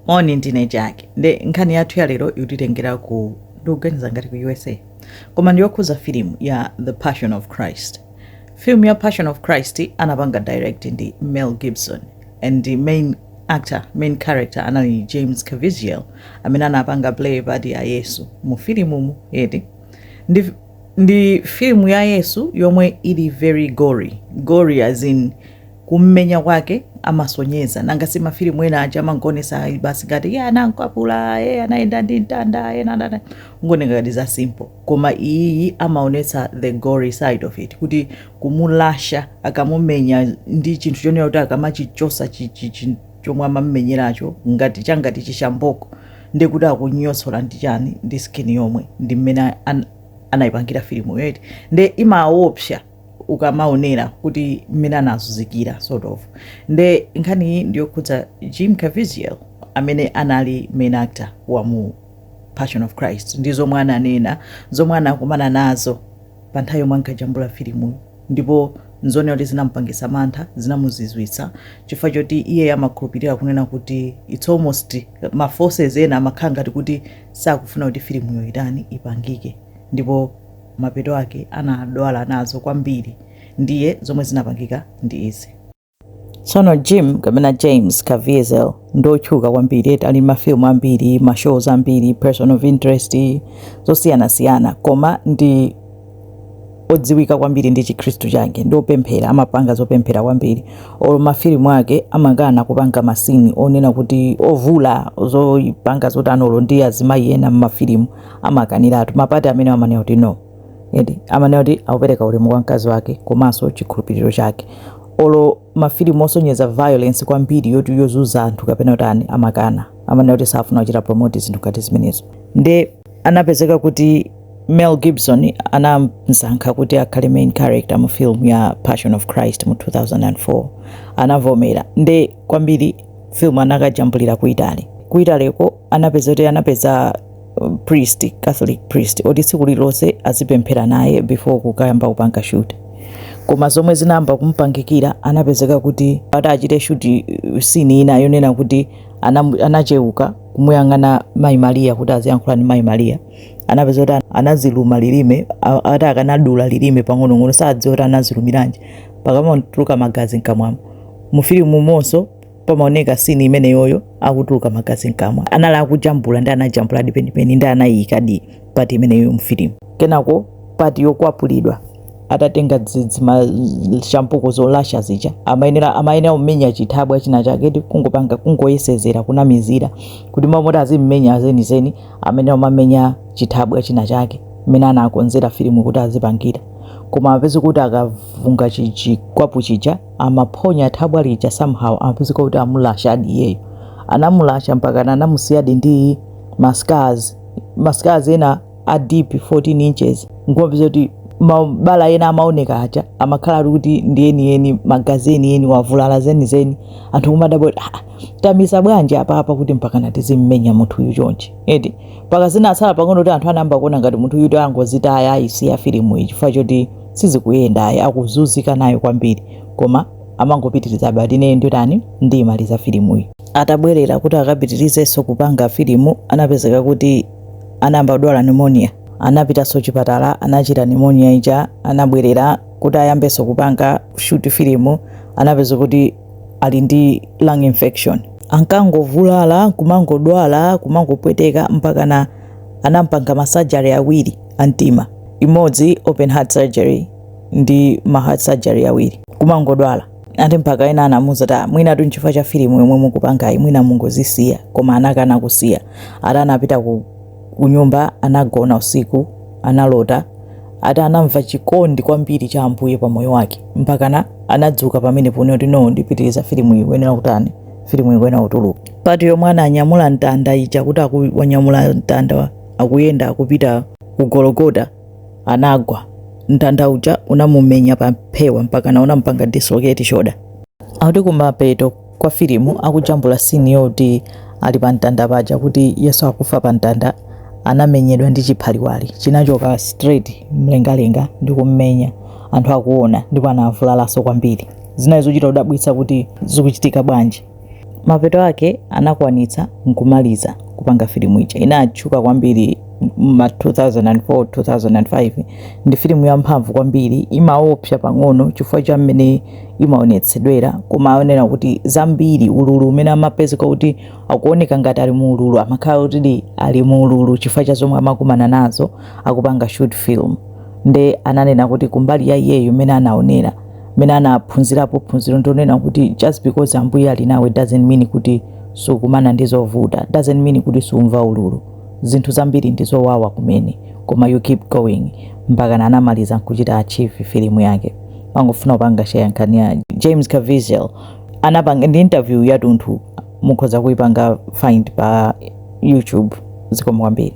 moni ndine jack nde nkhani yathu ya lero ikutitengera ku ndikuganiza ngati ku usa koma ndiyokhuza filimu ya the passion of christ filimu ya passion of christ anapanga direct ndi mel gibson and the main actor main character anali james caviezel amene anapanga play part ya yesu mu filimumu eti ndi, ndi filimu ya yesu yomwe ili very gory gory as in kummenya kwake amasonyeza nanga si mafilimu ena aja amangoonesa ayi basi ngati ye anamkwapula ye anayenda ndi mtanda ye nde zimangooneka ngati za simple koma iyiyi amaonetsa the gory side of it kuti kumulasha akamumenya ndi chinthu chonena kuti akamachichosa chi- chi- chi- chomwe amamumenyeracho ngati changati chishamboko ndi kuti akunyotsola ndi chani ndi skin yomwe ndi mmene an- anayipangira filimu yo eti nde imaopsa ukamaonera kuti mmene anazunzikira sort of nde nkhani iyi ndiyokhudza jim caviezel amene anali main actor wa mu passion of christ ndi zomwe ananena zomwe anakumana nazo pa nthawi yomwe ankajambula filimu ndipo nzonena kuti zinampangisa mantha zinamuzizwitsa chifukwa choti iye amakhulupirira kunena kuti its almost ma forces ena amakhala ngati kuti sakufuna kuti filimuyo itani ipangike ndipo mapeto ake anadwala nazo kwambiri ndiye zomwe zinapangika ndi izi tsono jim kapena james caviezel ndi otchuka kwambiri eti ali mafilimu ambiri ma shows ambiri person of interest zosiyanasiyana koma ndi odziwika kwambiri ndi chikhristu chake ndi opemphera amapanga zopemphera kwambiri olo mafilimu ake amakana kupanga ma scene onena kuti ovula zopanga zotani olo ndi azimayi ena m'mafilimu amakaniratu ma part amene amanena kuti no eti amanena kuti akupereka ulemu kwa mkazi wake komanso chikhulupiriro chake olo mafilimu osonyeza violence kwambiri yoti yozunza anthu kapena kutani amakana amanena kuti safuna kuchita promote zinthu ngati zimenezo nde anapezeka kuti mel gibson anamsankha kuti akhale main character mu film ya passion of christ mu 2004 anavomera nde kwambiri film anakajambulira ku italy ku italyko anapeza kuti anapeza uh, priest catholic priest oti tsiku lililonse azipemphera naye before kukayamba kupanga shoot koma zomwe zinayamba kumupangikira anapezeka kuti ati achite shoot uh, scene ina yonena kuti anam- anacheuka kumuyang'ana mayi mariya kuti aziyankhula ndi mayi mariya anapeza kuti ana- anaziluma lilime a- ati akanadula lilime pang'onong'ono sadziwa kuti anazilumiranji mpaka amatuluka magazi mkamwamo mu filimumonso pamaoneka scene imeneyoyo akutuluka magazi mkamwa anali akujambula ndi anajambuladi penipeni ndi anayiyikadi part imeneyo mfilimu kenako part yokwapulidwa atatenga shampuko zolasha zija amayenera amayenera kumenya chithabwa china chake eti kungopanga kungoyesezera kunamizira kuti mmalo moti azimmenya zenizeni amene amamenya chithabwa china chake mmene anakonzera filimu kuti azipangira koma apezeka kuti akavunga chichikwapu chija amaphonya thabwa lija somehow amapezeka kuti amulasadi iyeyo anamulasa mpakana anamusiyadi ndi ma scars ma scars ena a deep 14 inches nkumapeza kuti mabala ena amaoneka aja amakhala ali kuti ndi enieni magazi enieni wavulala zenizeni anthu kumadabwa kuti "Ah, tamisa bwanji apapa kuti mpakana tizimmenya munthu uyu chonchi eti mpaka zinatsala pang'ono kuti anthu anayamba kuona ngati munthu uyu angozitaya ayisiya filimu iyi chifukwa choti sizikuyenda ayi akuzunzika nayo kwambiri koma amangopitirizabe ati ineyo nditani ndiyimaliza filimuyi atabwerera kuti akapitirizenso kupanga filimu anapezeka kuti anayamba kudwala pneumonia anapitanso chipatala anachira pneumonia ija anabwerera kuti ayambenso kupanga shoot filimu anapezeka kuti ali ndi lung infection ankangovulala kumangodwala kumangopweteka mpakana anampanga ma surgery awiri a mtima, imodzi open heart surgery ndi ma heart surgery awiri, kumangodwala ati mpaka ena anamuuza kuti mwinatu nchifukwa cha filimu yomwe mukupangayi mwina mungozisiya koma anakana kusiya ati anapita ku, ku nyumba anagona usiku analota ati anamva chikondi kwambiri cha ambuye pa moyo wake mpakana anadzuka pamenepo nde kuti no ndipitiriza filimu ikuyenera kutani filimu ikuyenera kutuluka part yomwe ananyamula mtanda ija kuti wanyamula mtanda akuyenda akupita ku gologota anagwa mtanda uja unamumenya pa phewa mpakana unampanga dislocate shoulder akuti kumapeto kwa filimu akujambula scene yoti ali pa mtanda paja kuti yesu akufa pa mtanda anamenyedwa ndi chiphaliwali chinachoka straight mlengalenga ndi kummenya anthu akuona ndipo anavulalanso kwambiri zinali zochita kudabwitsa kuti zikuchitika bwanji Mapeto ake anakwanitsa n'kumaliza kupanga filimu ija. Inatchuka kwambiri m'ma 2004, 2005. Ndi filimu yamphamvu kwambiri, imaopsa pang'ono chifukwa cha mmene imaonetsedwera, koma akunena kuti zambiri ululu umene amapezeka kuti akuoneka ngati ali mu ululu, amakhala kutidi ali mu ululu chifukwa cha zomwe amakumana nazo akupanga shoot film. Nde ananena kuti kumbali ya iyeyo mmene anaonera, mmene anaphunzirapo phunziro ndi onena kuti just because ambuye ali nawe doesn't mean kuti sukumana ndi zovuta doesn't mean kuti sumva ululu zinthu zambiri ndi zowawa kumene koma you keep going mpakana anamaliza nkuchita achieve filimu yake ndangofuna kupanga share nkhani ya james caviezel anapanga ndi interview yatunthu mukhoza kuipanga find pa youtube zikomo kwambiri